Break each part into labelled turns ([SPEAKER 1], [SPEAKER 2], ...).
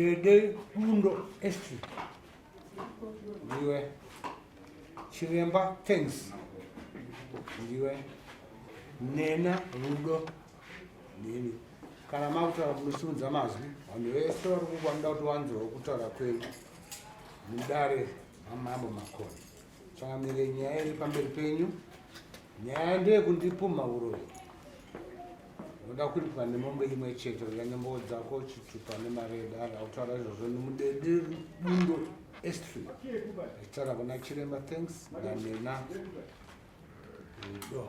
[SPEAKER 1] Dede Bundo Estate. Ndiwe. Chiremba Thanks. Ndiwe. Nena Rudo. Neni. Kana makutaura munosimudza mazwi, vanhu vese vari kukwanida kuti vanzwewo kutaura kwenyu. Mudare amambo makoni. Changamire nyaya iri pamberi penyu. Nyaya ndeye kundipumha uroyi. Unoda kuripwa nemombe imwe chete unyanya mbowo dzako chitupa nemari yedare autaura izvozvo nemudede bundo estry achitaura kuna chiremba thanks nanena rudo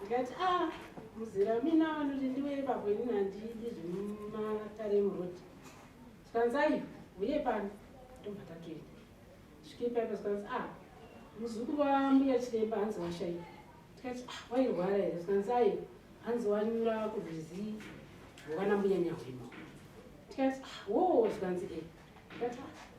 [SPEAKER 2] ndikati a ah, muzera mina vanoti ndiwe ipapo inini handidi zvemumataremu road tikanzai huye pano ndobva tatoenda svike paipa zvikanzi a ah, muzukuru wambuya chiremba hanzi washaika tikati ah, wairwara here zvikanzai hanzi wanyura kurwizi rwakanambuya nyahwima tikati wo zvikanzi e ndikati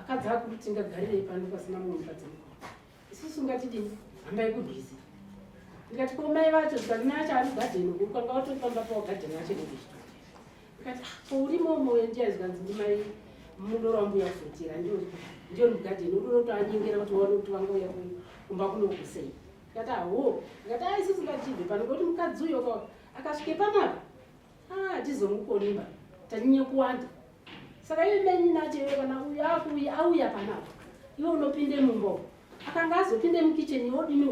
[SPEAKER 2] Akadzi akuru tingagarirei pano pasina mumwe mukadzi mukuru? Isusu ngatidini? Hambai kubhizi. Ndikati ko mai vacho zvikanzi mai acho ari gadheni uku kwanga watofamba pawo gadheni acho nekuzvitoti. Ndikati ah, ko urimo moyo ndiya zvikanzi ndimai muno rambuya kufutira ndiyo ndiyo mugadheni uri unotoanyengera kuti waone kuti vanga uya kumba kunokusei. Ndikati aho. Ah, Ndikati aisisi ah, ngatibve pano ngoti mukadzi uyo akasvike panapa atizongukonimba tanyanya kuwanda saka iye menyi nati iwe kana uyu akuuya auya panapa iwe unopinde mumbo akanga azopinde mukicheni wodini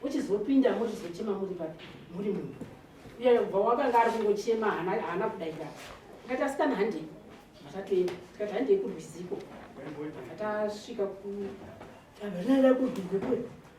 [SPEAKER 2] uchizopinda mochizochema muri papi muri mumbo iyoyo kubva wakanga ari kungochema haana kudaira tikati asikana handei matatoenda tikati handei kurwiziko atasvika ku avanara kudhugukwe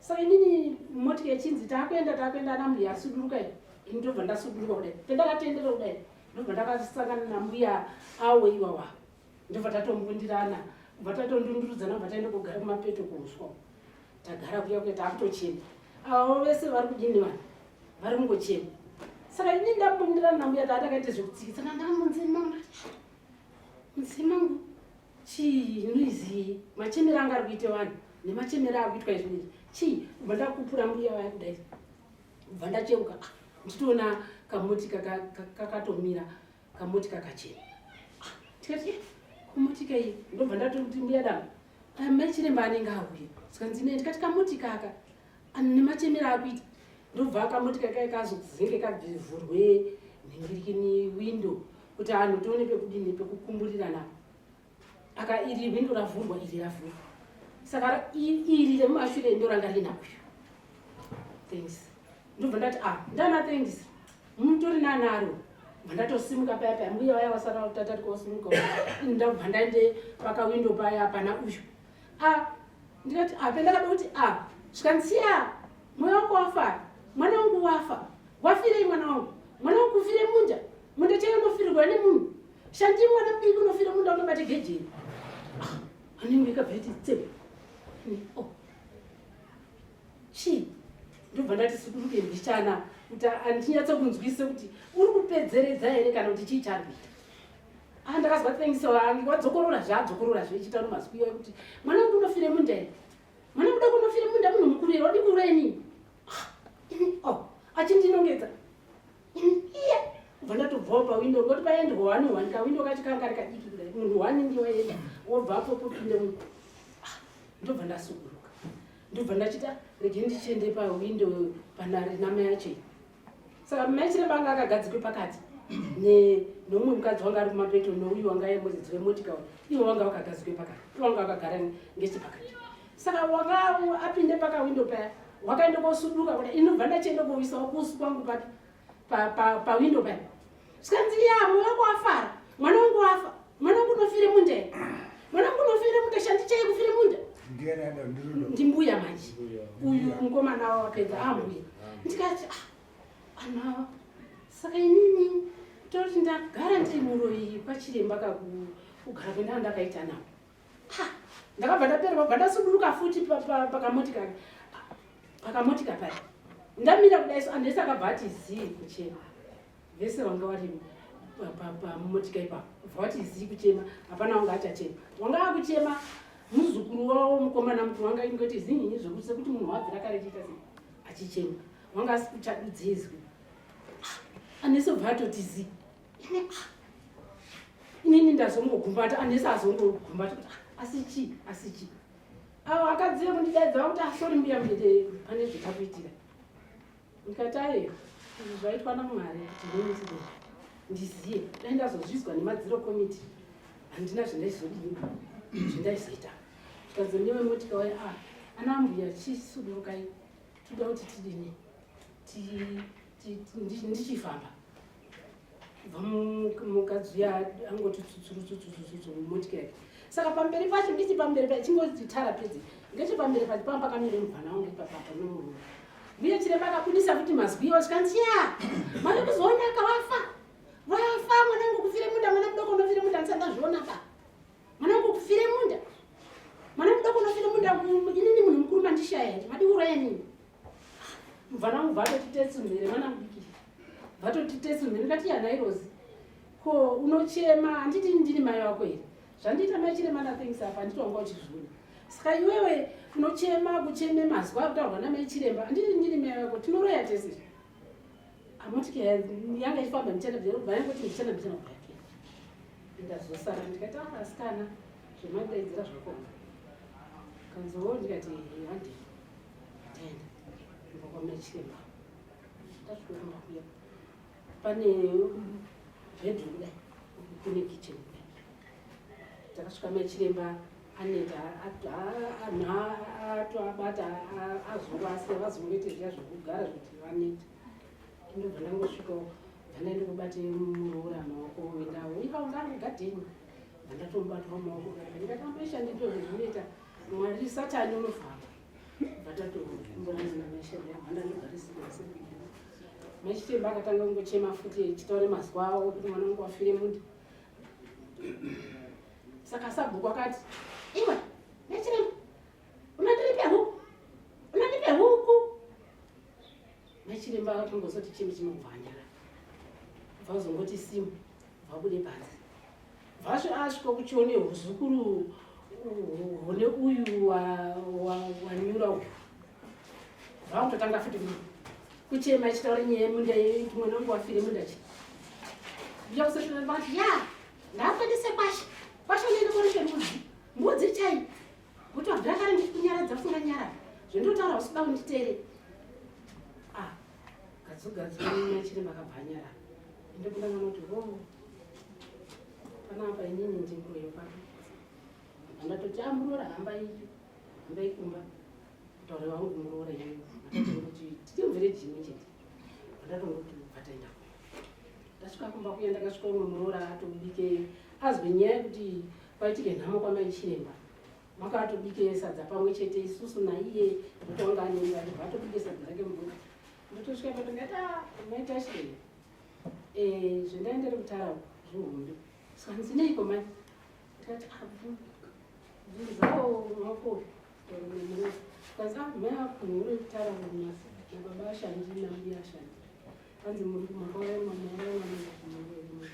[SPEAKER 2] Saka inini moti yechinzi takuenda takuenda ana mbuya asuduruka iyi. Ini ndobva ndasuduruka kudai. Pendakatendera kudai. Ndobva ndakasangana nambuya awo iwawa. Ndobva tatombundirana. Kubva tatondundurudzana kubva taenda kugara kumapeto kuuswa. Tagara kuya kuya takutochema. Avo vese vari kudini vanhu. Vari kungochema. Saka ini ndambundirana nambuya tatakaita zvekutsikitsana ndamunzima. Mzima ngu. chii muizii machemero anga ari kuita vanhu nemachemero ari kuitwa izvi izvi chii kubva ndakupura mbuya vaya kudai kubva ndacheuka ah, ndichitoona kamoti kakatomira kamoti kakachena ah, tikati eh, kamotika iyi ndobva ndatokuti mbuya dama amai chiremba anenge auye sikanzi ne ndikati kamoti kaka Ani nemachemera akuita ndobva akamoti kakai kazokuvhenge kabvivhurwe nhingirikini windo kuti anhu tione pekudini pekukumburirana aka iri windo ravhurwa iri ravhurwa saka iri remumashure ndo ranga rina uyu thanks ndobva ndati a ah, ndana thanks mutori nanaro vandatosimuka paya paya mbuya vaya vasara tatati kwasimuka ndabva ndaende pakawindo paya pana uyu a ndikati a pendakada kuti a zvikanzi siya mwana wako wafa mwana wangu wafa wafirei mwana wangu mwana wangu kufire munda munda chaiyo unofirirwa nemunhu shandii mwana mudiki unofira munda unobate gejeni anenge ikabveti tsebe oh. chii ndobva ndati sikuruke mbichana kuti andinyatsa kunzwisisa kuti uri kupedzeredza here kana kuti chii chari kuita Ah, ndakazwa thanks wangu wadzokorora zvaadzokorora zvechita no mazwi iwayo kuti mwana wangu unofire munda ere mwana mudoko unofire munda munhu mukuru ere wadi kureni ah, oh achindinongedza iya ubva ndatobvawo pawindo ngoti paende hwani hwani kawindo kacho kanga kari kadiki kudai munhu hwani ndiwaenda wobva apo popinde mu ah, ndobva ndasukuruka ndobva ndachita rege ndichiende pawindo panari nama yacho saka mai chiremba anga akagadzikwe pakati neumwe mukadzi wanga ari kumapeto nouyu wanga aye muridzi wemotika uyu ivo vanga vakagadzikwe pakati ivo vanga vakagara ngechepakati saka wanga apinde pakawindo paya wakaenda kosuduka kuda inobva ndachienda kowisawo kusu kwangu papi pawindo paya zvikanzi ya mwe wako afara mwana wangu wafa mwana wangu unofire munda ere mwana wangu unofire munda shandi chai kufire munda ndimbuya manje uyu mukomana wavo wapedza ambuya ndikati ah, ana saka inini toti ndagara ndiri muroyi kwachiremba kakugara kwendanga ndakaita navo ndakabva ndapererwa bva ndasuduruka futi pakamotika pakamotika paya ndamira kudai so andesi akabva ati zii kuchema vese vanga vari pamotika ipapo bva vati zii kuchema hapana wanga achachema wanga akuchema muzukuru wavo mukomana mukuru wanga ingoti zinyinyi zvekuti sekuti munhu wabvira kare chiita sei achichema wanga asikuchadudzizwi anese bva atoti zii inini ndazongogumbata anese azongogumbata kuti ah, asi chii asi chii avo akadzive kundidaidza vakuti asori ah, mbuya mdede pane zvitakuitira ndikati aye izvi zvaitwa namwari kuti ndinitide ndiziye dai ndazozvizwa nemadziro komiti handina zvandaizodii zvandaizoita zvikanzi newe motika waye a ah, ana mbuya chisudurukai toda kuti tidini ndichifamba kubva mukadzi uya angoti tsutsurutsutsutsutsutsu mumotikari saka pamberi pacho ndichi pamberi pacho chingoti tara pedzi ngechi pamberi pacho pamba pakamire mubvana wangu ipapapa nomurume mbuya chiremba akabudisa kuti mazwi iwo chikanzi ya mari kuzoonaka wafa wafa mwanangu kufire munda mwana mudoko unofire munda ndisati ndazviona pa mwanangu kufire munda mwana mudoko unofire munda inini munhu mukuru mandishaya here madiuraya nini mvana wangu vatotitesi mhere mwana mudiki vatotitesi mhere ndati yanairozi ko unochema handiti ndini mai wako here zvandiita mai chirema nathings apa handiti wanga uchizviona saka iwewe unochema kucheme mazwa akutaurwa namai chiremba handiti ndini mai wako tinoroya tese amotike yanga ichifamba ndichana vayangoti ndichana ndichana kuya ndikazosara ndikati asikana ah, zvemandaidzira zvakona kanzoo ndikati handi pane bedroom dai kune kitchen takasvika machiremba aneta atoabata azovasa vazongoita zviya zvekugara zvekuti vaneta ndobva ndangosvika vandaenda kubate muroora maoko wendawo ika ungari gadheni vandatomubatwa maoko ndikatamba ishandito zvezvinoita Mwari satani unovhara machitema akatanga kungochema futi echitaura mazuva avo kuti mwana wangu wafire mundi saka sabhuku akati iwe nechiremba unandiripe huku unandipe huku Nachiremba vakangozoti chimwe chinohwanyara bva uzongoti simu vabude panze vasvo asvika kuchione huzukuru hune uyu wanyura uyu vakutotanga futi kuchema ichitaura nyaya yemunda yekuti mwana wangu wafire munda chi uya kusesvaa vati ya ndakwanise kwasha kwasha unoenda korife mbudzi mbudzi chai Kuti wabvira kare ndikunyaradza kufunga nyara zvendotaura usida kunditere. Ah, gadzogadzwa nyaya chiri makabhanyara. Ende kuna mwana kuti ho. Oh, Pana apa inini ndinguyo pano. Andatoti amurora ah, hamba iyi. Hamba ikumba. Taure wangu kumurora iyi. Kuti tichimvire jini chete. Andatongoti vataenda. Ndasvika kumba kuya ndakasvika umwe murora atobike azwe nyaya kuti Kwaitike nhamo kwamai chiremba makatobike sadza pamwe chete isusu naiye mutanga anenge ati vatobike sadza rake muburi ndotosvika patongati a ah, maita chiremba eh, zvendai ndiri kutara zvihombe so hanzineiko mai tikati bvunzawo ah, mako kanzi ah, mai akunhu uri kutara munyasi nababa ashandi nambi ashandi hanzi muri kumakauraimamuuraimamuuraimaa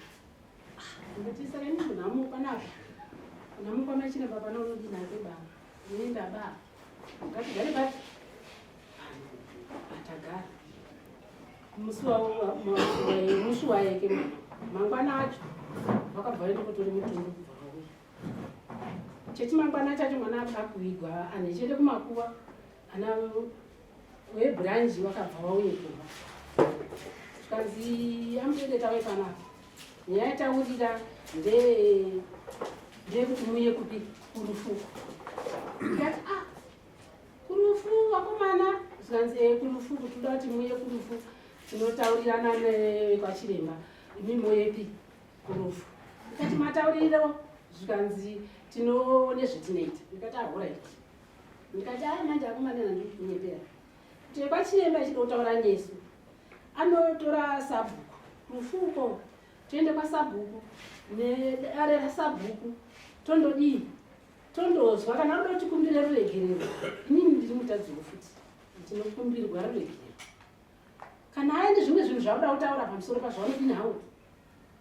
[SPEAKER 2] Ndotisa kani munhu amuka napa. Unamuka machina baba na unodi na baba. Unoenda baba. Ngati gari baba. Atagara. Musi wawo musi waye ke mangwana acho wakabva enda kutori mutundu kubva wawo. Cheti mangwana chacho mwana akakuigwa ane chete kumakuwa ana webranji wakabva wauye kumba zvikanzi amutende tave panapa nyaya yataurira ndeyekuti muye kupi kurufu ndati a ah, kurufu vakomana zvikanzi e eh, kurufu kuti uda kuti muye kurufu tinotaurirana nekwachiremba imi moyepi kurufu ndikati matauriro zvikanzi tinoone zvetinoita ndikati ahoraiti ah, ndikati haa manje akomana nandiri kunyepera kuti kwachiremba ichida kutaura nesu anotora sabhuku mufuko toende kwasabhuku nedare rasabhuku tondodii tondozwa kana rudo tikumbire ruregerero inini ndiri mutadziwo futi tinokumbirwa ruregerero kana aende zvimwe zvinhu zvauda kutaura pamusoro pazvaunodini hawo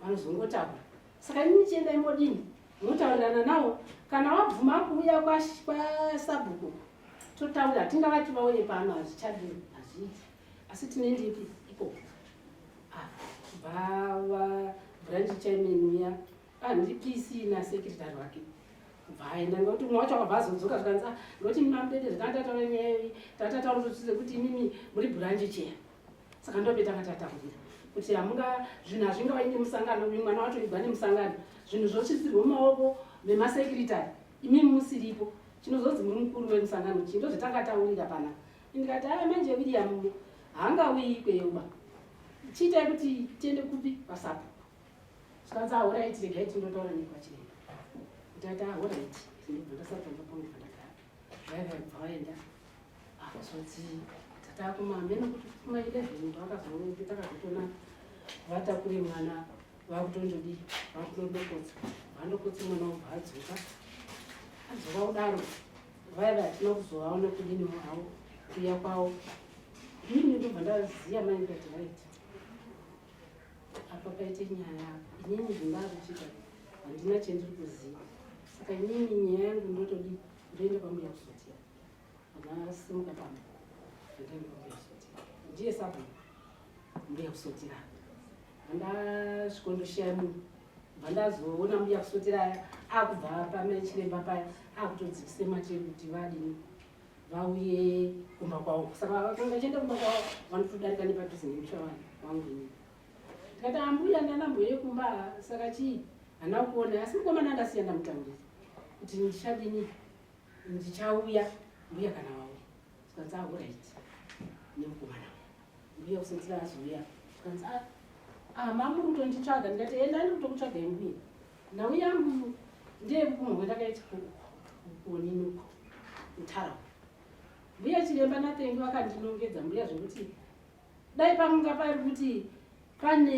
[SPEAKER 2] vanozongotaura saka ini chiendai modini motaurirana nawo kana wabvuma kuuya kwasabhuku totaura tingavati vauye pano hazvichadi hazviiti asi tine ndipi iko bvava ah, branch chairman uya ah, ndipisi nasekretary wake kubva aenda ngekuti umwe wacho akabva azodzoka zvikanzi ah, ngekuti mimamudede zvikandatataura nyaya iyi tatataura kuti imimi muri branch chair saka ndobe takatataurira kuti hamunga zvinhu hazvinga vaine musangano uyu mwana wacho igwa nemusangano zvinhu zvosvisirwa mumaoko memasekiritari imi musiripo chinozonzi muri mukuru wemusangano chii ndozvatakataurira pana ndikati aya manje william hanga uyi kweuba chiitai kuti tiende kupi pasapo zvikanzi ahoraiti regai tindotaura nekwachiremba ndikati ahoraiti ndibva ndasati ndapongea Driver ibva waenda akazoti tatakumameno kuti kuma 11 ndo akazooneke takazotona vatakure mwana vakutondodii vakutondokotsa vandokotsa mwana wobva adzoka adzoka kudaro vaiva hatina kuzovaona kudini havo kuya kwavo ini ndobva ndaziya maingati right apa paite nyaya apa inini zvindava kuchita handina chendiri kuziva saka inini nyaya yangu ndotodi ndoenda pambuya kusotia vanasimuka pamba ndoenda pambuya kusotia ndiye sabu mbuya kusotira vandasviko ndoshaya munhu vandazoona mbuya kusotira akubva pamechiremba paya akutodzikise machekuti vadini vauye kumba kwavo saka vakanga vachienda kumba kwavo vanotodarika nepadhuze nemusha vanhu wangu ini ndikati ambuya ndana mbuya yekumba saka chii hana kuona asi mukomana andasiya ndamutaurira kuti ndichadini ndichauya mbuya kana vauya zvikanzi auraiti nemukomana mbuya kusenzira azouya zvikanzi ah, ah mamuri kutonditsvaga ndikati enda ndiri kutokutsvagai mbuya nhau yangu ndeyekukumwe kwendakaitika kuonini uko mutarawa mbuya chiremba natengi vakandinongedza mbuya zvekuti dai pamanga pari kuti pane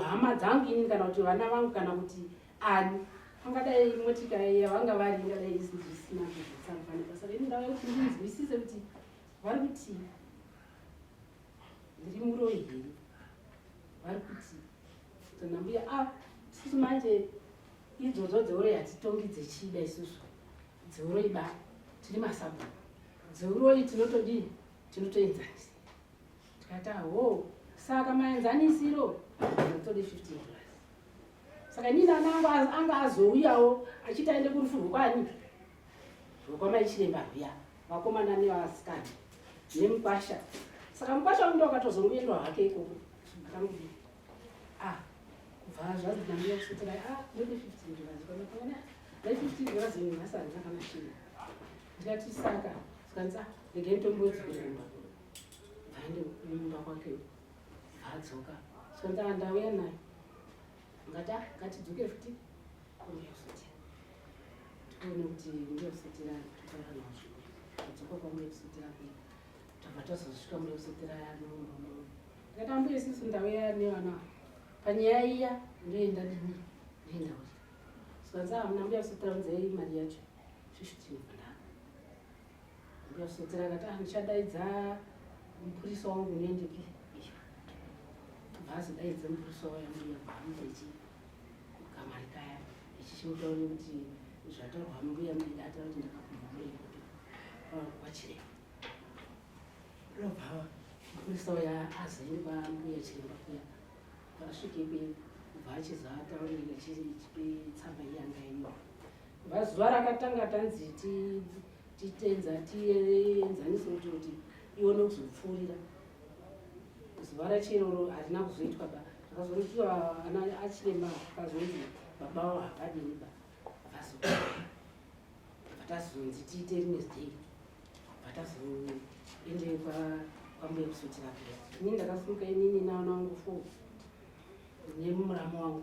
[SPEAKER 2] hama dzangu ini kana kuti vana vangu kana kuti ani pangadai motika yavanga vari ingadai isina zvekusambanibasa ini ndava yekuti ndinzwisise kuti vari kuti ndiri muroyi here vari kuti Kana mbuya ah sisi manje idzodzo dzeuro yatitongi dzechida isusu dzeuro iba tiri masabu dzeuroi tinotodii tinotoenzanisa tikati aho saka maenzanisiro tode 15 plus saka nini ana angu anga azouyawo achiti aende kurufu rwokwani Rukwana ichiremba rwiya vakomana nevasikana nemukwasha saka mukwasha wangu ndokatozongoendwa hake ikoko akamudii ah kubva zvanzi nambuya kusotera ah ndode fifteen dollars kwanakamana dai fifteen dollars yenyu nhasi handina kana shiri ndikati saka zvikanzi ah regai nditomboedzi kuremba bvaende mumba kwake bvaadzoka zvikanzi ah ndauya nayo ngata ngatidzoke futi kumberi futi tikuone kuti ndiyo futi rani tutaura nazvo tadzoka kwamuye futi rako tabva tazosvika muye futi rayanombomo ngati ambuye sisi ndauya nevana panyaya iya ndoenda dini ndoenda kuti sikanzi amuna mbuya futi raunzei mari yacho svishutinofana ndikasvedzerana ta ndichadaidza mupurisa wangu unoendeke bhazi daidza mupurisa wayo mbuya bhamuda ichi kukamari kaya ichichimutauri kuti zvataurwa mbuya mbuya ata kuti ndakapumha mbuya kuti kwachiremba robva mupurisa waya azaini kwambuya chiremba kuya pasvike kwe kubva achizataurira chitsamba iyangaino vazuva rakatanga tanzi ti titenza tienzanise kuti kuti ione kuzopfuurira zuva rachero harina kuzoitwa ba akazoitwa ana achirema akazonzi baba avo havadini ba vatazonzi tiite rimwe zidei vatazoende kwambuya kusotira kuya ini ndakasimuka inini naana wangu fo nemuramu wangu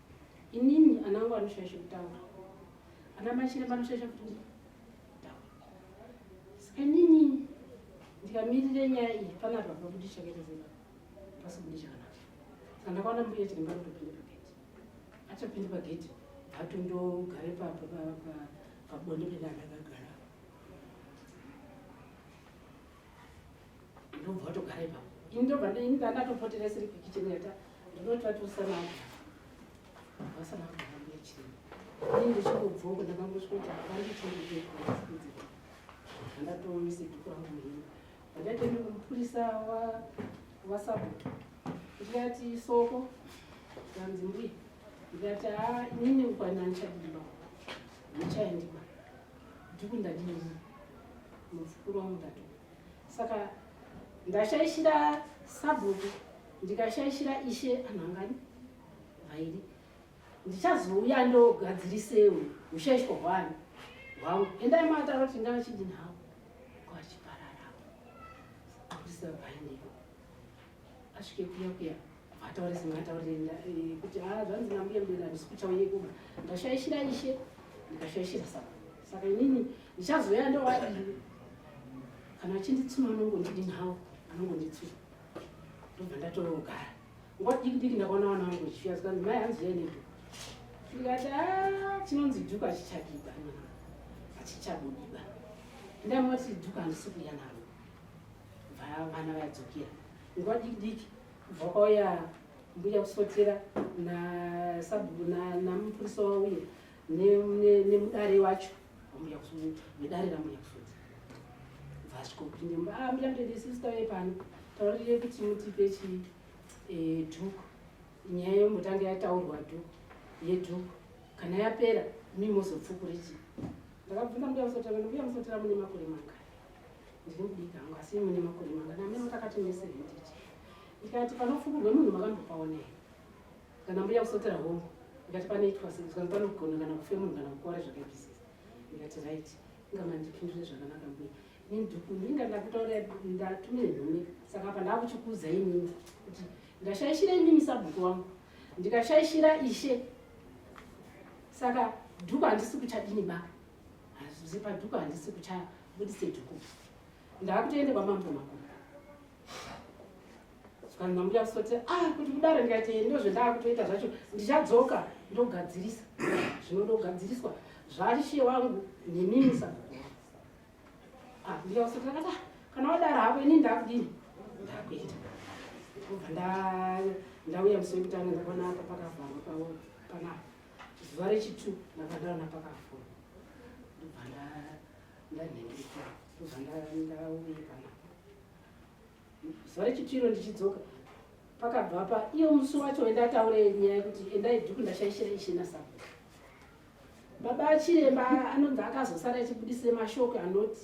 [SPEAKER 2] Inini anangu anoshaisha kutaura. Ana machire vanoshaisha kutaura. Saka inini ndikamirire nyaya iyi pana apa pakuti chakete zera. Pasi kuti chakana. Saka ndakaona mbuya chiri mbaro topinda pa gate. Acha pinda pa gate. Hatu ndo gare pa pa pa pa bonde penda akagara. ndobva watogara ipapo ini ndobva ndandatopoteresa iri kukicheni yata ndinoti vatosanaa vasanaaambuya chirema ini ndichingobvoko ndakangosvika kuti akandichingobekuudzira andatoise dhuku rangu muhini andatoende kumupurisa wasabhuku ndikati soko kanzi mbuya ndikati haa inini ukwana ndichadimba ndichaendima Dhuku ndadini muzukuru wangu ndatoka saka ndashaishira sabhuku ndikashaishira ishe anhu angani vairi ndichazouya ndogadzirisewo ushaishwa hwani hwangu endai mataro kuti ndavachidini havo kwachipararavo kurisa vaineo asvike kuya kuya ataure singataure eh, kuti ha ah, zvanzi nambuya mbira ndisi kuchauye kuma ndashaishira ishe ndikashaishira saka saka inini ndichazoya ndowadii kana achinditsuma anongondidini hawo anongonditsuma ndobva ndatogara nguva diki diki ndakaona vana vangu vachiuya zikanzi mai hanzi yanedu ndikati ah, chinonzi dhuku achichabiba achichabudiba ndamati dhuku handisi kuya naro bva vana vadzokera nguva diki diki kubva kwauya mbuya kusotera namupurisa wauye nemudare wacho ambuya kusotera nedare rambuya kusotera bva asvikopinde mba ah, mbuya mtende sisi tauye pano taurire kuti mutipe chi eh, dhuku nyaya yombotanga yataurwa dhuku yedhuku kana yapera mimozopfukuriti ndakabvunza mbuya musotera mbuya musotera mune makore mangani ndiri mudiki hangu asi imwe nemakore mangana amene mutakati mese henditi ndikati panofukurwe munhu makambopaone kana mbuya kusotera hongu ndikati panoitwa sei zvanzi panogona kana kufe munhu kana kukora zvakaipisa ndikati right ingamandipindure zvakanaka mbuya ini dhuku ndinga ndakutaura ndatumire nhume saka apa ndakuchikuza inini kuti ndashaishira inini sabhuku wangu ndikashaishira ishe saka dhuku handisi kuchadini ba Hazvisi padhuku handisi kuchaya budise dhuku. Ndakutoende kwamambo makuru. Saka ndambuya kusoti ah kuti kudaro ndikati ndozvo ndakutoita zvacho ndichadzoka ndogadzirisa. Zvinodogadziriswa zvarishe wangu nemimi saka. Ah ndiya kusoti ndakati ah, kana wadaro hako ini ndakudini? Ndakuita. Ndauya musoro kutanga ndakaona apa pakavharwa pawo panapa. zuva rechitu ndakadaona pakafona ndobva ndanhengeka ndobva ndauye kana zuva rechitu iro ndichidzoka pakabva pa iyo musi wacho wendataure nyaya yekuti endai dhuku ndashaishira ishina sabo baba achiremba anonzi akazosara achibudise mashoko anoti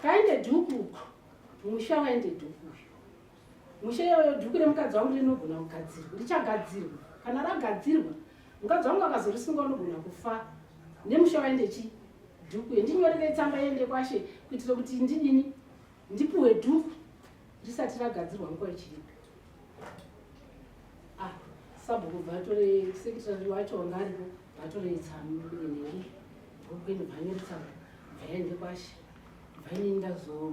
[SPEAKER 2] kaende dhuku musha waende dhuku uyu mushe iyoyo dhuku remukadzi wangu rinogona kugadzirwa richagadzirwa kana ragadzirwa mukadzi wangu akazorisunga unogona kufa nemushe waende chi dhuku yendinyorerei tsamba yende kwashe kuitira kuti ndidini ndipuhwe dhuku risati ragadzirwa nguva ichiripo ah, sabhuku bvatore sekitari wacho wanga aripo bvatore tsamnei dhuku ende bvanyoretsamba bvaende kwashe bvainini ndazoa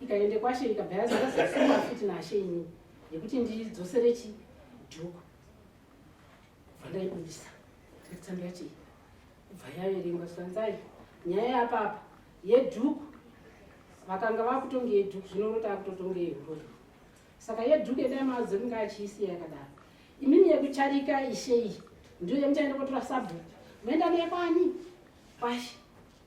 [SPEAKER 2] ikaende kwashe ikabva yazara zvasunga futi nashe ini yekuti ndidzosere chi dhuku kubva ndaibudisa tsando yacho iyi kubva yaverengwa sanzai nyaya yapapa yedhuku vakanga vakutonge yedhuku zvino uno taakutotonge yehuroyi saka yedhuku yedai madzo kunge achiisiya yakadaro imimi yekucharika ishe iyi ndiyo yemuchaenda kotora sabhuku moenda neyekwani kwashe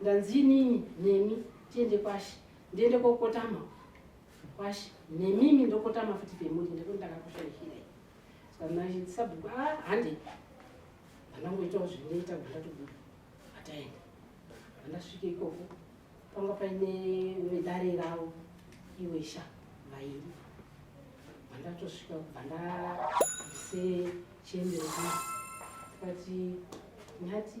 [SPEAKER 2] ndanzi inini nemi tiende kwashi ndiende kokotama kwashi nemimi ndokotama futi pemuri ndekuti ndakakushaishirei sanaisabhuku a ah, hande ndanangoitawo zvinoita gundatobuda ataenda andasvike ikoko panga paine vedare ravo iwesha vairi vandatosvika kubva ndabvise chiendero zvino tikati nyati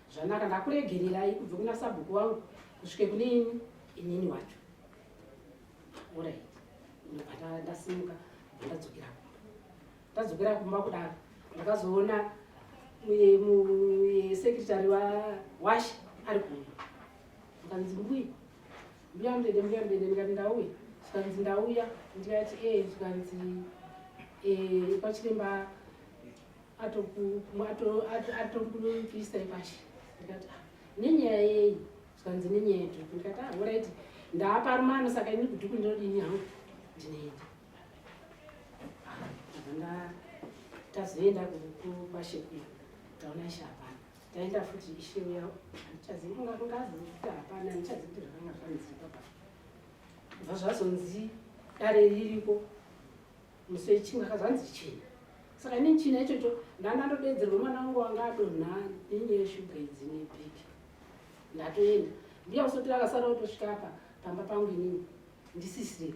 [SPEAKER 2] zvanaka ndakuregererai kubve kuna sabhuku wangu kusvike kune ini inini wacho orit ndobva ndasimuka bva ndadzokera kumba ndadzokera kumba kudaro ndakazoona sekretary wawashi ari kuuya akanzi mbuya mbuya mdede mbuya mdede ndikati ndauya zvikanzi ndauya ndikati e zvikanzi e eh, kwachiremba atokuisai pashi ndikati ah, nenyaya yei zvikanzi nenyaya yedhuku ndikati ah, orit ndaapa rumano saka ini kudhuku ndinodini hangu ndinoenda akanga ah, tazoenda kukwashekuya taona ishe hapana taenda futi ishe uya handichazivi kunga kungazi kuti hapana handichazivi kuti zvakanga zvanzi papa bva zvazonzi dare ririko Musi wechimwe akazwa hanzi china. Saka ini china ichocho ndandandodeedzerwa mwana wangu wanga adonha nenyaya yeshuga idzi nebhipi. Ndatoenda. Mbiya usotira akasara otosvika apa pamba pangu inini ndisisiri.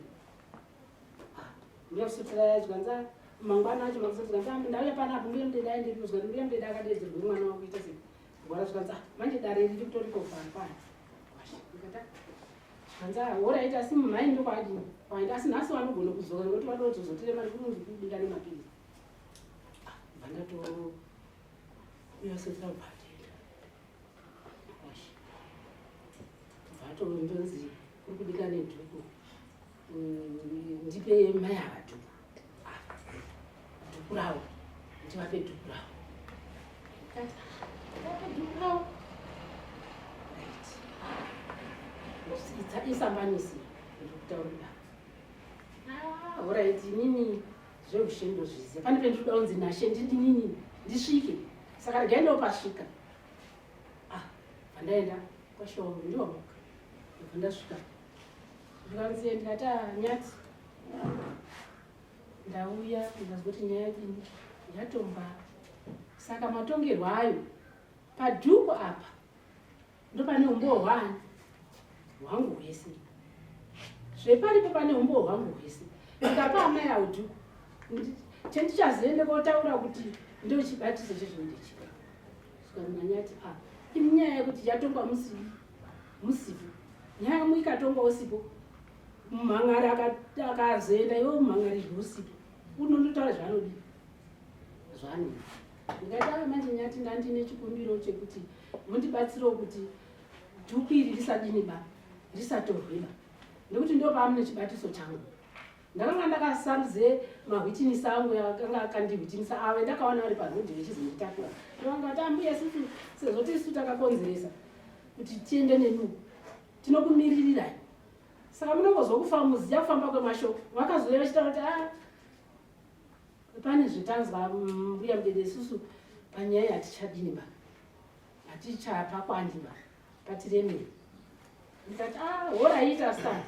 [SPEAKER 2] Ah, mbiya usotira yadya nzaa mangwana acho makusotira nzaa ndauya pana apo mbiya mudeda aende kuzwa mbiya mudeda akadeedzerwa mwana wangu ita sei. Gwara zvikanzi ah manje dare riri kutoriko pano pano. Ndikati ah, hanzi horaiti asi mumhai ndokwaadii kwaenda asi nhasi vanogona kuzora nokuti vanozozotere mari kunonzi kubika nemapizi vandato uyasotira bhatenda vato ndonzi kuri kubika nedhuku Mm, ndipe mai ava dhuku ah, dhuku ravo ndivape dhuku ravo isambanisi ndikutaurira ah, horaiti inini zveushendo zviziva pane pendikuda kunzi nashe ndidinini ndisvike saka regai ndopasvika ah, pandaenda kwashowo ndiwamuka ndobva ndasvika ndikanzi ndikati anyati ndauya ndikazwa kuti nyaya dini yatomba saka matongerwo ayo padhuku apa ndopane umbowo hwani hwangu hwese zveparipo pane umbowo hwangu hwese ndikapa amai awo dhuku chendichazoende kotaura kuti ndochibatizo chezvindichia saka ndikanyati a ah, imi nyaya yekuti yatongwa musii musipo nyaya yamwe ikatonga usipo mumhan'ari akazoenda iwe mumhan'arirwe usipo unototaura zvaanodi zvaanodi ndikataura manje nyati ndandine chikumbiro chekuti mundibatsirewo kuti dhuku iri risadini ba risatorwe ba nekuti ndopamune chibatiso changu ndakanga ndakasarudze mahwitinisi angu akanga akandihwitinisa ave ndakaona vari parhodhi vechizonditakura ndovanga vati ambuya sisi sezvo tisu takakonzeresa kuti tiende nenu tinokumiririrai saka munongozwa kufa muziya kufamba kwemashoko vakazouya vachitaura kuti a ah, pane zvetanzwa mbuya mudede isusu panyaya hatichadini ba hatichapakwandi ba Katiremei. Ndikati ah horaita sa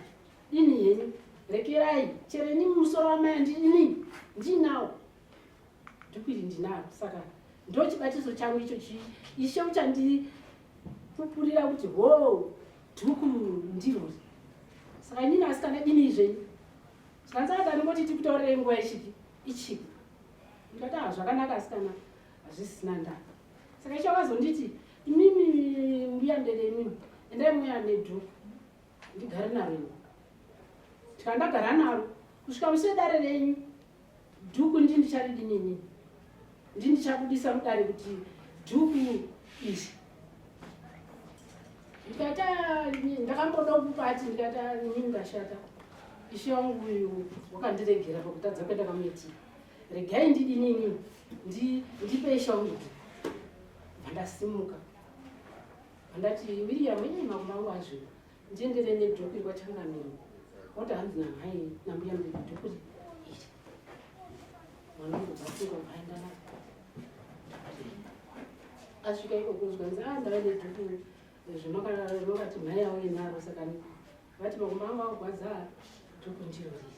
[SPEAKER 2] ini henyu rekerai chero ini musoro wamaya ndini ndinawo ndikuti ndinaro saka ndochibatiso changu icho chii ishe uchandipupurira kuti ho dhuku ndirori saka inini asikana dini zvenyu zvikanzaka ndingoti tikutaurire nguva ichipi ichipi ndikati ah zvakanaka asikana hazvisina ndaka saka icho akazonditi imimi mbuya ndere imimi endai muya nedhu ndigare naro ini tikandagara naro kusvika muse dare renyu dhuku ndi ndicharidi nini ndi ndichakudisa mudare kuti dhuku izvi ndikata ndakamboda kupati ndikata nini ndashata ishe wangu uyu wakandiregera pakutadza kuenda kamuitira regai ndidinini ndipei shauri vandasimuka vandati william ii makuma angu azvo ndiendere nedhoku iri kwachangamiro wati hanzi namhai nambuya mdhoku iri mwana wangu basinga vaenda na asvika iko kunzwa nzi a ndava nedhoku zvimakati mhai yavo inaro saka vati makuma angu augwaza dhoku ndiro riri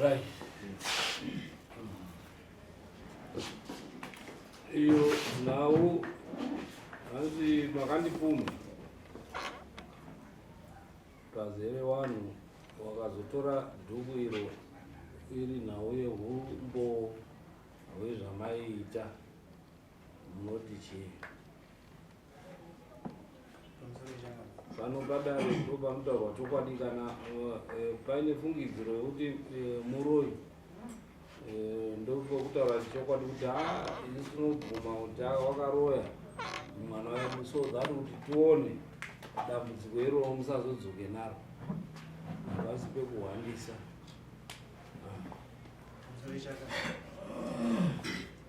[SPEAKER 3] Right. Iyo nhau hanzi makandipumha pazere vanhu wakazotora dhuku iro iri nhau yehumbo hwezvamaiita munoti chii pano padare ndipo panotaurwa chokwadi kana eh, eh, paine fungidziro yekuti eh, muroyi ndopokutaura chokwadi kuti ha isu tinobvuma kuti wakaroya mwana wedu so that kuti tione dambudziko iroo musazodzoke naro havasi pekuhwandisa ah.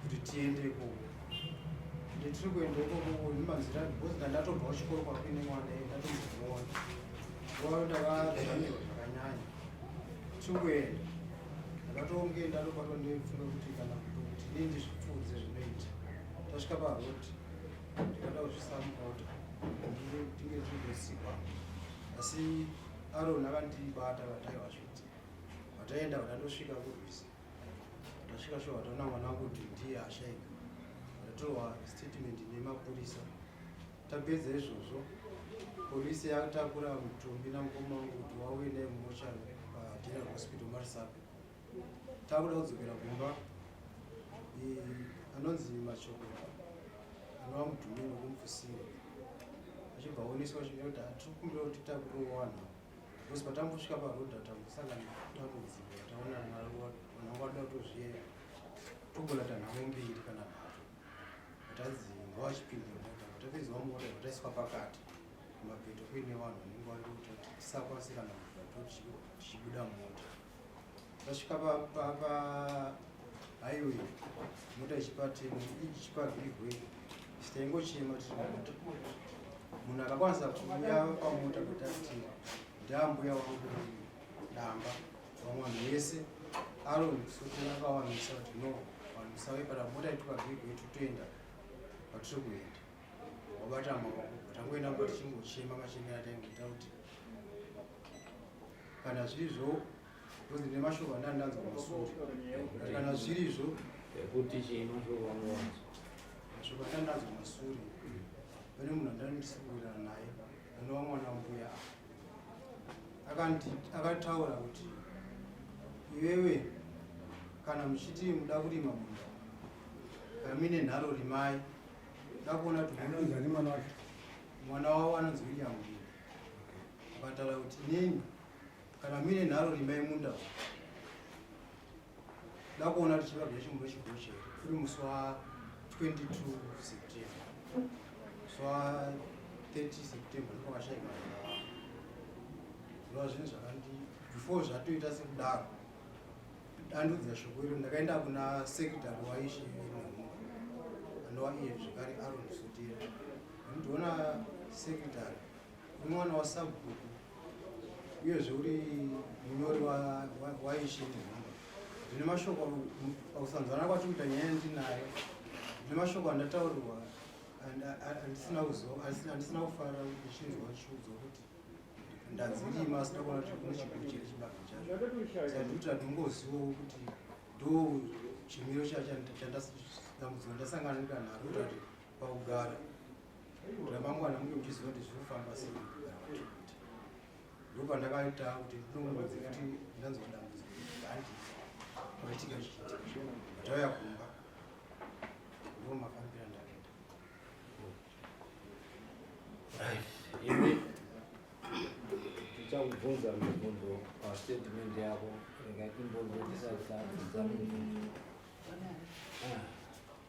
[SPEAKER 4] kuti tiende ikoko ende tiri kuenda ikoko nemanzira because ndandatobva kuchikoro kwakuine mwana ye ndatombomuona wao ndavazvamirwa zvakanyanya tiri kuenda ndakatonge ndatobatwa ndoifunga kuti kana kuto kuti dii ndizvipfuudze zvinoita tasvika paroti ndikada kuzvisamuka kuti tinge tizosikwa asi arona vandibata vataiva zviti vataenda vanatosvika kurwisa tasvika shuwa taona mwana wangu kuti ndiye ashaika ndatorwa statement nemapurisa tapedza izvozvo polisi yatakura mutumbi namukoma wangu kuti wauye naye mumochari pageneral hospital marisape takuda kudzokera kumba anonzi mashoko anova mutumbi nokumufusira achibva aoneswa zvinoita tiri kumbira kuti takurowana Because patambosvika paroad tambosangana dambudziko rataona naro vanongoda kutozviyera togona tanhamo mbiri kana nhatu vatanzi ngawachipinda mota vatapedzwa mota vataiswa pakati kumapeto kuine vanhu vanenge vari kuti tisakwanise kana kuvatochibuda mota Tasvika pa pa pa highway mota ichipati ichipa give way taingochema tiri mota munhu akakwanisa kuuya pamota kuti ati ndambuya wangu damba vamwe vanhu vese aron sotera vawanisa kuti no vanhu musave kana mota ituka give way totoenda patiri kuenda wabata maoko tangoenda kuti chingochema machemera taingoita kuti kana zviri zvo Because ndine mashoko andandanzwa masuri. Kana zviri izvo. Ekuti chii
[SPEAKER 3] mashoko andanzwa? Mashoko
[SPEAKER 4] andandanzwa masuri. Pane munhu andandisikurana naye. Anova mwana mbuya. Akanti akataura kuti iwewe kana muchiti muda kurima munda kamine nharo rimai ndakuona kuti anonzani mwana wacho mwana wavo anonzi william akataura kuti neni Kana mine nharo rimai munda uyu. Ndakuona tichiva kune chimuro chigoshe kuri musi wa 22 September. Musi wa 30 September ndipo vakashaika vana. Zvinova zvinhu zvakandi before zvatoita sekudaro. Dandudzira shoko iro ndakaenda kuna secretary waishe Nyamuka. Anova iye zvekare Aaron Sutira. Ndinoona secretary Mwana wasabhuku uyezve uri munyori waishini ndine mashoko pakusanzwana kwacho kuita nyaya yandinayo ndine mashoko andataurirwa andisina andisina kufara ndichinzwa chiudzwa kuti ndadzirima asina kuona kuti kune chiguru chiri chibaka chacho saka ndikuti handingozivawo kuti ndo chimiro chachandambudziko ndasangana ndikanharo kuti pakugara ramangwana munge muchiziva kuti zviri kufamba sei kugara kwatinoita ndo pandakaita kuti ndinomuudza kuti ndanzwa dambudziko handi kwaitika zvichiitika ndauya kumba ndo mafambira ndakaita
[SPEAKER 3] imi tichakubvunza mibvunzo pastatement yako rega timbonzwa tisati tadzidza mibvunzo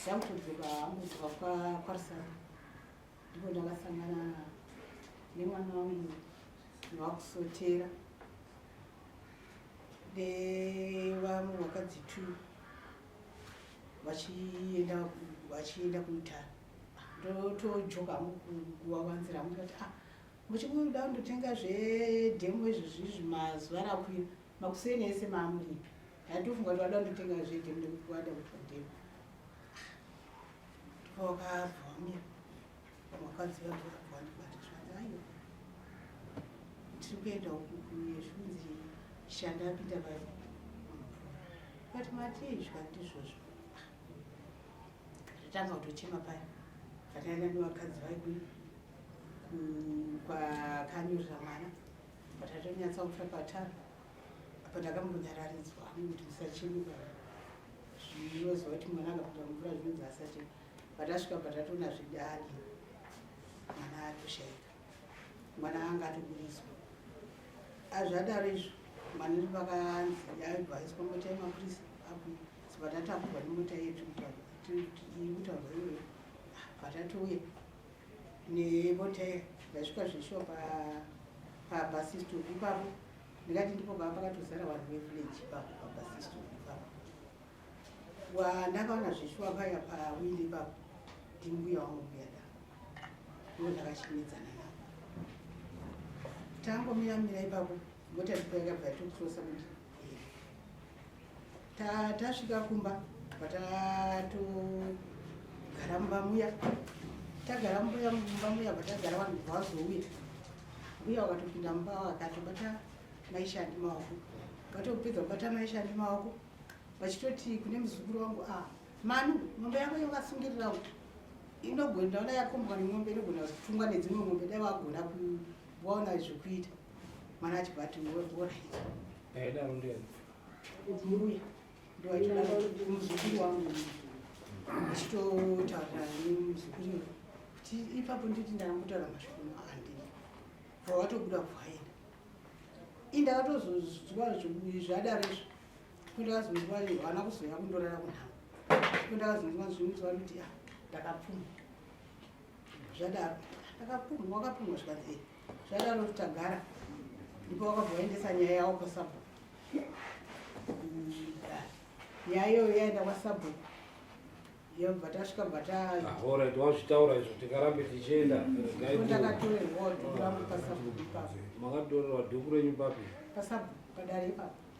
[SPEAKER 5] zvakutodzeka amudzoka kwarisana ndipo ndakasangana nemwana wangu wakusotera nevamwe vakadzi two vachienda vachienda kuitana ndotojoka mukuvavanzira mukati ah muchikuda kundotenga zvedhemu izvozvizvi mazuva rakwira makuseni ese maamuripi Ndatofunga kuti vada kutenga zvete ndikuwada kuti vadhema. Ndipo wakabva wamira. Wakadzi vabva wabva wandibata zvanzi aiwa. Tiri kuenda uku kuyezvunzi shanda apinda pai. Kati matii zvikati izvozvo. Tatanga kutochema paya. Vataenda nevakadzi vaigwini kwakanyorera mwana. Vatatonyatsa kufa patara. apa ndakambonyararidzwa kuti musachemuka zvinoziva kuti mwana akapinda mumvura zvinonzi asati patasvika patatoona zvidani mwana atoshaika mwana anga atoburitswa azvadaro izvo mwana ri pakanzi yaibva aiswa mota yemapurisa apo sipatatakurwa nemota yedu kutaurwa iyoyo patatouya nemota ndasvika zveshuwa pabhasistop ipapo ndikati ndipo pava pakatozara vanhu vevillage ipapo pabasiston ipapo wandakaona zveshuwa paya pawili ipapo ndimbuya wangu mbuya da ndo ndakachimidzana navo tangomiramira ipapo mota ndipo yakabva yatokutosa kuti tasvika kumba patatogara mumba muya tagara mumba muya patagara vanhu kubva vazouya uye wakatopinda mumba wakatobata maishandi maoko ukatopedza kubata maishandi maoko vachitoti kune muzukuru wangu a ah, manu mombe yako yokasungirira uku inogona ndaona yakombwa nemombe inogona kutungwa nedzimwe mombe dai wagona kuwaona zvekuita mwana achibva ati woraita Ndaidaro ndiye. Kuti muruya. Ndaidaro kuti muzukuru wangu. Ndichitotaura nemuzukuru uyu. Kuti ipapo nditi ndakambutaura mashoko maandi. Bva watobuda kwaenda. Indakatozozwa zvadaro izvo. Kundakazonzwa vana kuzoya kundorara kunhamo. Kundakazonzwa zvinhu zvakuti ah ndakapfuma. zvadaro akapumha wakapumha zvikanzi eh, zvadaro tagara ndipo wakabva waendesa nyaya yawo kwasabhuku nyaya iyoyo yaenda kwasabhuku yobva tasvika bva taorit ah,
[SPEAKER 3] wazvitaura izvo tikarambe tichienda ndakatorerwa
[SPEAKER 5] dhuku rangu pasabhuku ipapo makatorerwa dhuku
[SPEAKER 3] renyu papi pasabhuku padare
[SPEAKER 5] ipapo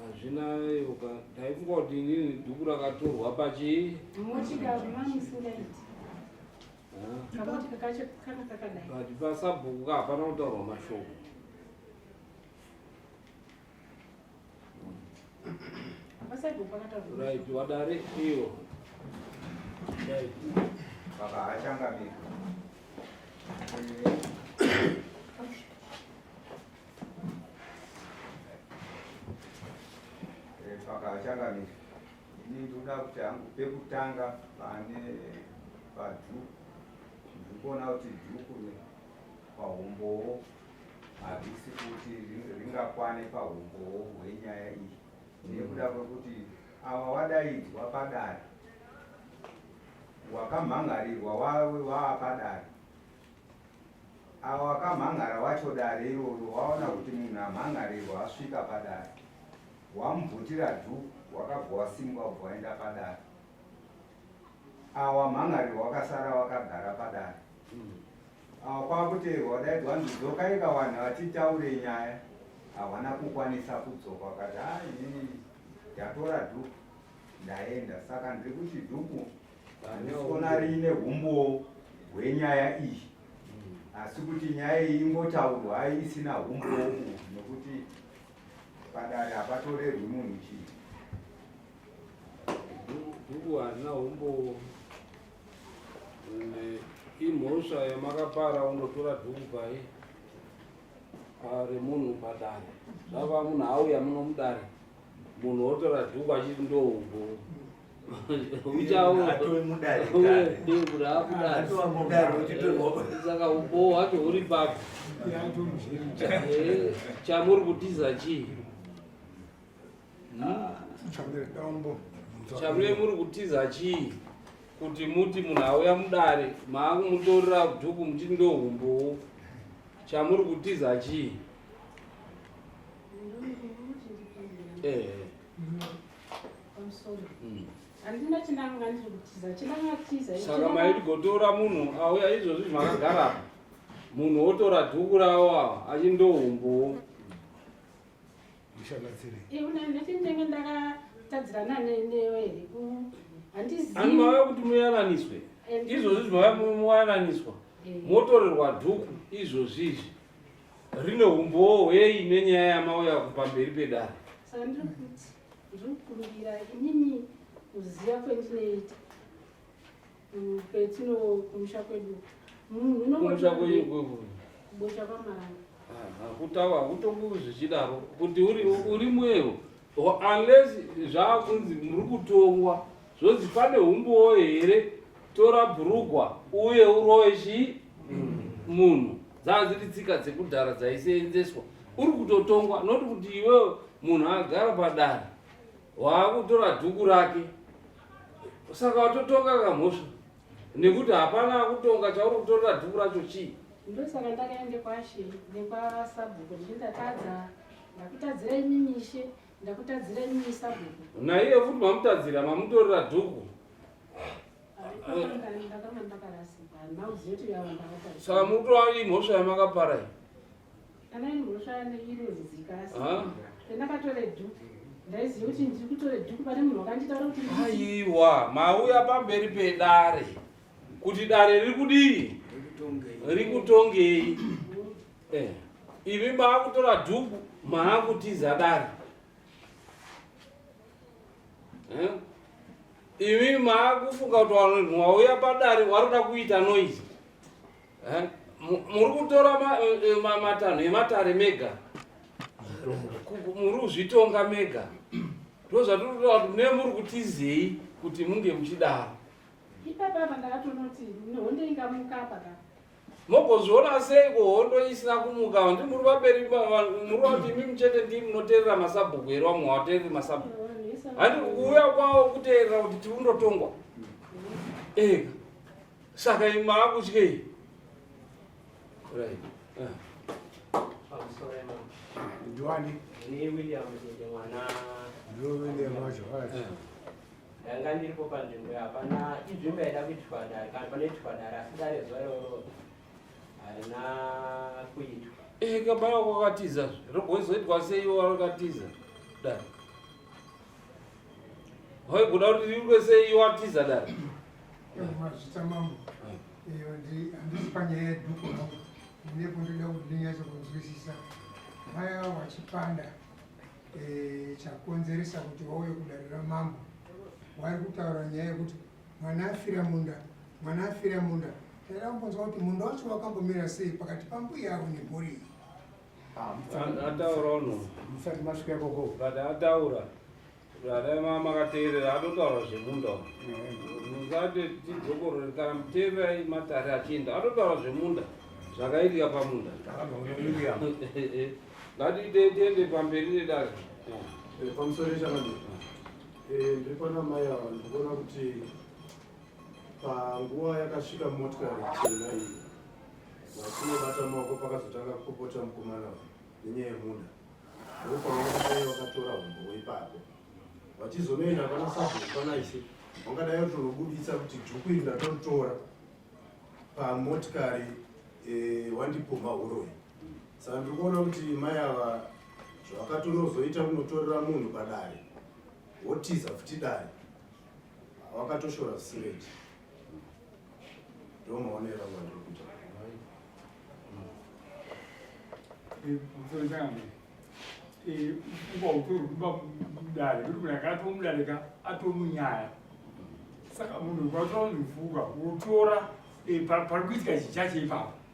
[SPEAKER 3] Hazvina yoka ndaikungoti inini dhuku rakatorwa pachii. Motika mami
[SPEAKER 2] singaiti. But pasabhuku
[SPEAKER 3] ka hapana kutaurwa mashoko.
[SPEAKER 2] Right, wadare
[SPEAKER 3] iyo. Right. Baba
[SPEAKER 6] hachangamika. pakachangamire ini ndoda kuti hangu pekutanga pane padhuku ndikuona kuti dhuku pahumbowo hazvisi kuti ringakwane pahumbowo hwenyaya iyi nekuda kwekuti ava wadaidzwa padare wakamhangarirwa wawe waapadare Avo vakamhan'ara wacho dare iroro waona kuti munhu amhan'arirwa asvika padare. Wamubvutira dhuku wakabva wasimuka kubva waenda padare. Avo wamhan'arirwa wakasara wakagara padare. Avo kwakuteerwa wadaidzwa hanzi dzokai kawanhu hatitaure nyaya. Havana kukwanisa kudzoka wakati haa inini ndatora dhuku ndaenda saka ndiri kuti dhuku Ndikuona riine humbowo hwenyaya iyi asi kuti nyaya iyi ingotaurwa ai isina humbowo uhu nokuti padare hapatorerwi munhu chii
[SPEAKER 3] Dhuku harina humbowo ende imhosva yamakapara unotora dhuku pai remunhu padare zvava munhu auya muno mudare munhu otora dhuku achiti ndohumbowo uchauakudarisaka uboho wacho huri papo chamuri kutiza chii chamure muri kutiza chii kuti muti munhu auya mudare maakumutorera dhuku muchiti ndohumbowo chamuri kutiza chii ehe
[SPEAKER 2] handina chinanga ndiri kutiza chinanga tiza saka maiti gotora
[SPEAKER 3] munhu auya izvozvi makagara munhu wotora dhuku rawo awa achindohumbuwo ndichinenge
[SPEAKER 2] ndakatadzirana
[SPEAKER 3] neyo here ani mauya kuti muyananiswe izvozvi zvimauya muyananiswa eh. motorerwa dhuku izvozvizvi rine humbowo hwei nenyaya yamauya kupamberi pedare sandiri kuti
[SPEAKER 2] ndiri kukumbira inini kuziva kwendinoita mm, kwetino kumusha kwedu munhu unomusha kwenyu
[SPEAKER 3] kwekuri kubosha
[SPEAKER 2] kwamaranga kutaura
[SPEAKER 3] kutokuri zvichidaro kuti uri mwewo unless zvaakunzi muri kutongwa zvozi pane humbowo here tora bhurugwa uye uroye chii mm. munhu dzanga dziri tsika dzekudhara dzaiseenzeswa uri kutotongwa not kuti iwewe munhu agara padare waakutora dhuku rake saka watotonga kamhosva nekuti hapana akutonga chauri kutorera dhuku racho chii ndosaka ndakaende
[SPEAKER 2] kwashe nekwasabhuku ndindatadza ndakutadzira imi mishe ndakutadzira imi sabhuku naiye futi mamutadzira
[SPEAKER 3] mamutorera dhuku
[SPEAKER 2] saka mukutoa imhosva
[SPEAKER 3] yamakapara iyi
[SPEAKER 2] kana imhosva yairozidzika ndakatore dhuku ndaiziva kuti ndiri kutore dhuku pane munhu wakanditaura kuti
[SPEAKER 3] aiwa mauya pamberi pedare kuti dare riri kudii riri kutongei eh, imi maakutora dhuku maakutiza dare eh? Imi maakufunga kuti vanhu vauya padare varikuda kuita noise. Eh? Mu- Muri kutora ma- eh, ma- matanho ematare mega. Ku- ku- Muri kuzvitonga mega. Ndozvatiri kutaura kuti nemuri kutizei kuti munge muchidaro. Ipapa apa
[SPEAKER 2] ndakatonoti honde ingamuka apa ka. mogozviona
[SPEAKER 3] seiko hondo isina kumuka handi muri vaperi muri vati imi muchete ndii munoteerera masabhuku here vamwe havateereri masabhuku handi kuuya kwavo kuteerera kuti tiri kundotongwa eka saka imi maakutyei ndiwani
[SPEAKER 7] ndiwilliam
[SPEAKER 1] wacho
[SPEAKER 7] ndanga ndiripo panzvimbo yapana inzvimbo yaida
[SPEAKER 3] kuitirwa dare kana panoitirwa dare asi dare zuva iroro harina kuitwa ee eh, kabaya kwakatiza zve rogozoitwa sei iwo wakatiza dare waiguda kuti riitwe sei iwo atiza dare mazvita
[SPEAKER 8] mambo iyo handisi panyaya yeduku hangu ndine kundoda kuti ndinyaso kunzwisisa vaya vachipanda e, chakonzeresa kuti wauye kudarira mambo wari kutaura nyaya yekuti mwana afira munda mwana afira munda taida kumbonzwa kuti munda wacho wakambomira sei pakati pambuya avo nemhuri iyi ah, ataura
[SPEAKER 3] uno musati masvika ikoko
[SPEAKER 1] but ataura
[SPEAKER 3] zvadai makateerera atotaura zvemunda musati tidzokorore kana muteererai matare achienda atotaura zvemunda zvakaitika pamunda Ngatiitei tiende pamberi nedare. Eh, pamusoro
[SPEAKER 9] ichanani eh, ndiri pana mai ava ndikuona kuti panguva yakasvika motikari chena iyi vatinobata maoko pakazotanga kupopota mukomana nenyaya yemuda ndopangaai vakatora humbo weipapo vachizonoenda pana sabhuku panaisi vangadai vatonobudisa kuti dhuku iri ndatotora pamotikari eh, wandipumha uroyi Saka ndiri kuona kuti mai ava zvakatonozoita kunotorera munhu padare wotiza futi dare wakatoshora zvisingaiti ndo maonera mwandiri kuita
[SPEAKER 10] ukautori kuba mudare kuti munhu akatomudarika atomunyaya saka munhu kwatora nzifuka wotora eh, pari kuitika chichache ipapo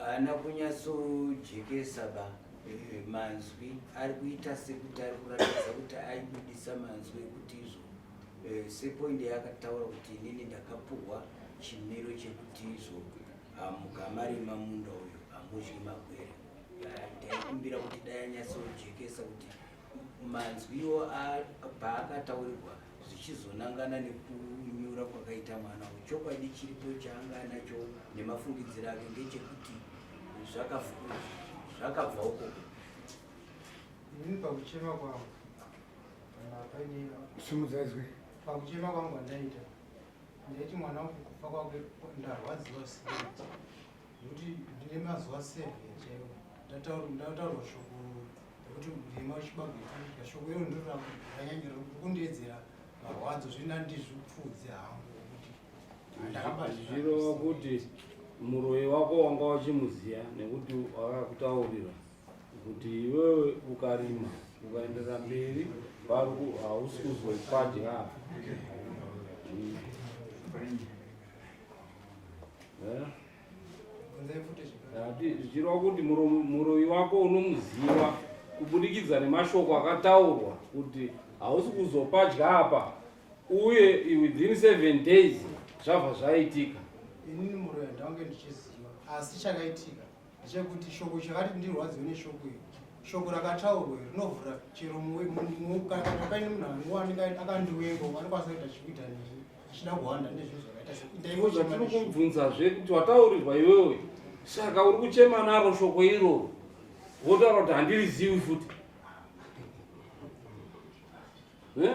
[SPEAKER 11] haana kunyatsojekesa ba eh, manzwi ari kuita sekuti ari kuratidza kuti aibudisa manzwi ekuti izvo eh, sepoindi yaakataura kuti inini ndakapuhwa chimiro chekuti izvo ah, mukamarima munda uyo hamudyi magwere ah, ndaikumbira kuti dai anyatsojekesa kuti manzwiwo paakataurirwa zvichizonangana nekunyura kwakaita mwana uyu chokwadi chiripo chaanga anacho nemafungidziro ake ngechekuti zvakabva uko
[SPEAKER 4] ini pakuchema kwangu kana paine simudzadzwe
[SPEAKER 1] pakuchema
[SPEAKER 4] kwangu andaita ndaiti mwana uku kufa kwake ndarwadziwa sireti Nekuti ndine mazuva seven chaiwo ndataurwa shoko rekuti ndima chibagwe chinoita shoko iro ndiro rakanyanyira kundiedzera marwadzo zvina ndizvipfudze hangu kuti ndakabazvirova kuti
[SPEAKER 3] muroyi wako wanga uchimuziya nekuti wakakutaurira kuti iwewe ukarima ukaenderera mberi paruku hausi kuzwe padya Eh? zvichireva kuti muroyi wako unomuziva kubudikidza nemashoko akataurwa kuti hausi kuzopadya apa uye within seven days zvabva zvaitika inini muroyi
[SPEAKER 4] ndange ndichiziva asi chakaitika chekuti shoko chakati ndirwadziwe neshoko iri shoko rakataurwa iri rinovhura chero kana paine munhu anguwanika akandiwengo anokwanisa kuita chikuita neni achida kuhwanda nezvinhu zvakaita sekuitaiwotiri kubvunzazve
[SPEAKER 3] kuti wataurirwa iwewe saka uri kuchema naro shoko iroro wotaura kuti handirizivi futi eh?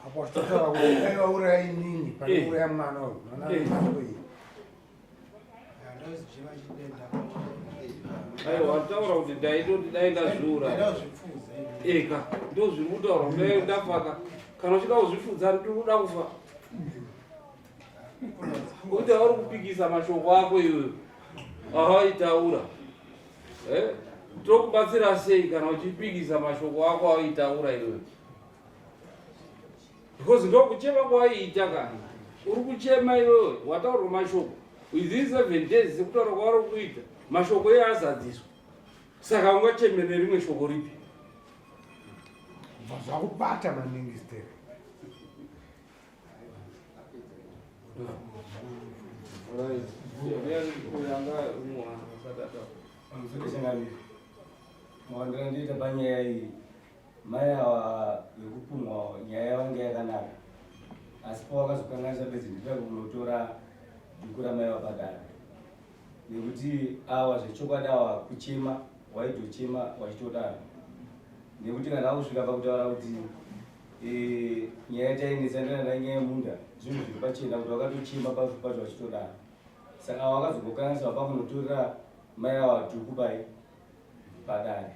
[SPEAKER 1] apo achitotaura kuti aivauraya inini paiuraya eh. mwana uyu
[SPEAKER 3] aiwa taura kuti ndaitoti dai ndazviura eka ndozviri kutaura kuti dai ndafaka kana uchida kuzvifudza ndiri kuda kufa kuti auri kupikisa mashoko ako iyoyo awaitaura eh? tokubatsira sei kana uchipikisa mashoko ako awaitaura iyoyo because ndokuchema kwaiita kana uri kuchema iwewe wataurwa mashoko within seven days sekutaura kwavari kuita mashoko iye azadziswa saka ungacheme nerimwe shoko ripi
[SPEAKER 1] zvakubata maningi stere
[SPEAKER 12] mawandira ndiita panyaya iyi Mai awa vekupumwa nyaya yavange yakanaka asi pawakazokanganisa bedzi nditira kunotora dhuku ramai vapadara nekuti awa zvechokwadi awa kuchema waitochema wachitodaro nekuti kana akusvika pakutaura kuti eh, nyaya tainetsa ndanana nyaya yemunda zvinhu zviri pachena kuti wakatochema pacho pacho wachitodaro saka awa wakazogokanganisa wapakunotorera mai awa dhuku pai padare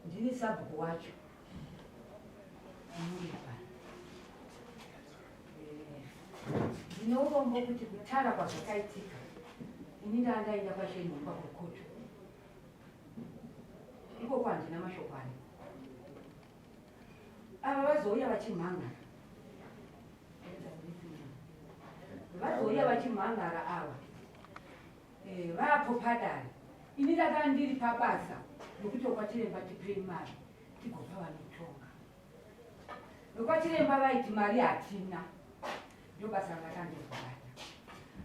[SPEAKER 3] ndini sabhuku
[SPEAKER 13] wacho ndine urombo kuti kutara kwazvakaitika ini ndandaenda kwashenhomba kwekocho ikoko handina mashoko aya ava vazouya vachimhangara vazouya vachimhangara ava eh, vapo padare ini ndakandiri pabasa nokuti okwachiremba tipei mari tigopa vanotonga ndokwachiremba vaiti mari hatina ndobasa rakakandirwara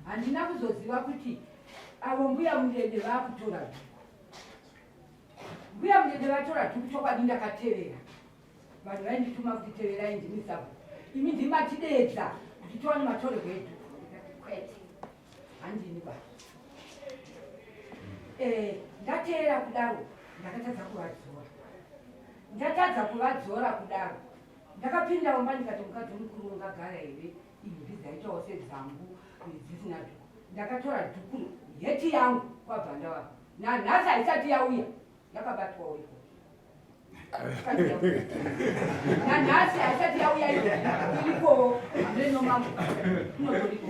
[SPEAKER 13] handina kuzoziva kuti avo mbuya mudende vakutora dhuku mbuya mudende vatora dhuku chokwadi ndakatevera vanhu vaindituma kuti teverai ndimisabhu imi ndimatidedza kuti tiwane matorerwo edhuku kwete handini ba eh, ndateera kudaro ndakatadza kuvadzora ndatadza kuvadzora kudaro ndakapinda umba ndikati mukadzi mukuru ungagara here imbi dzaitawo sedzangu dzisina dhuku ndakatora dhuku heti yangu kwabva ndawaa nanhasi haisati yauya Yakabatwa uriko. Nanhasi haisati yauya iriko hameno mambo. Kunotoriko.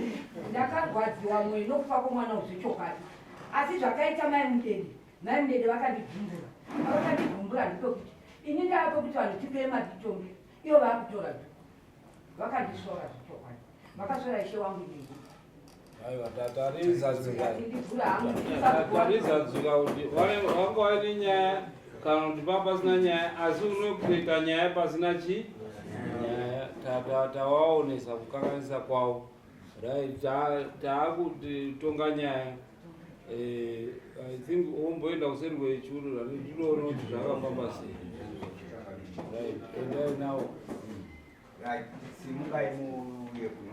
[SPEAKER 13] Ndakarwadziwa mwoyo nokufa kwomwana uyu zvechokwadi. Asi zvakaita mai Mudede, mai Mudede vakandibvumbura. Vakandibvumbura ndipekuti ini ndava pekuti vanhu tipeye matitombi ivo vaakutora zvo. Vakandisvora zvechokwadi. Vakasvora ishe wangu inenguva. aiwa
[SPEAKER 3] tatariza dzika tatariza dzika kuti vanga vaine nyaya kana kuti pa pasina nyaya asi unopeka nyaya pasina chi nyaya tawaonesa kukanganisa kwavo right taakuti tonga nyaya eh, i think omboenda kuseri kwechuru rani ndinoona kuti zvakafamba sei
[SPEAKER 6] right
[SPEAKER 3] endai
[SPEAKER 6] nawo right simukai muuye kuno